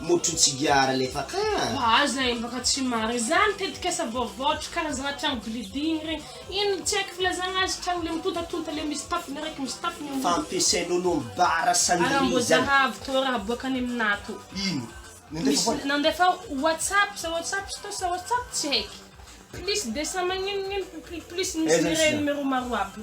Motro tsigara lefaka an! Mba aza hembaka tsy marina izany tetikasa vaovao hatry karazana trano building ireny. Inona tsy haiko filazana azy, trano le mitontatonta le misy tafo miraiky misy tafo ny ambony. Fampiasain' olom bara sandry izany. Ara mbozaha avy teo raha boaka any amin ato. Ino? Nandefa foana? Misy nandefa whatsapp sa whatsapp stos sa whatsapp tsy haiko. Plis desa magnino gnino plis misy mireny mero maro aby.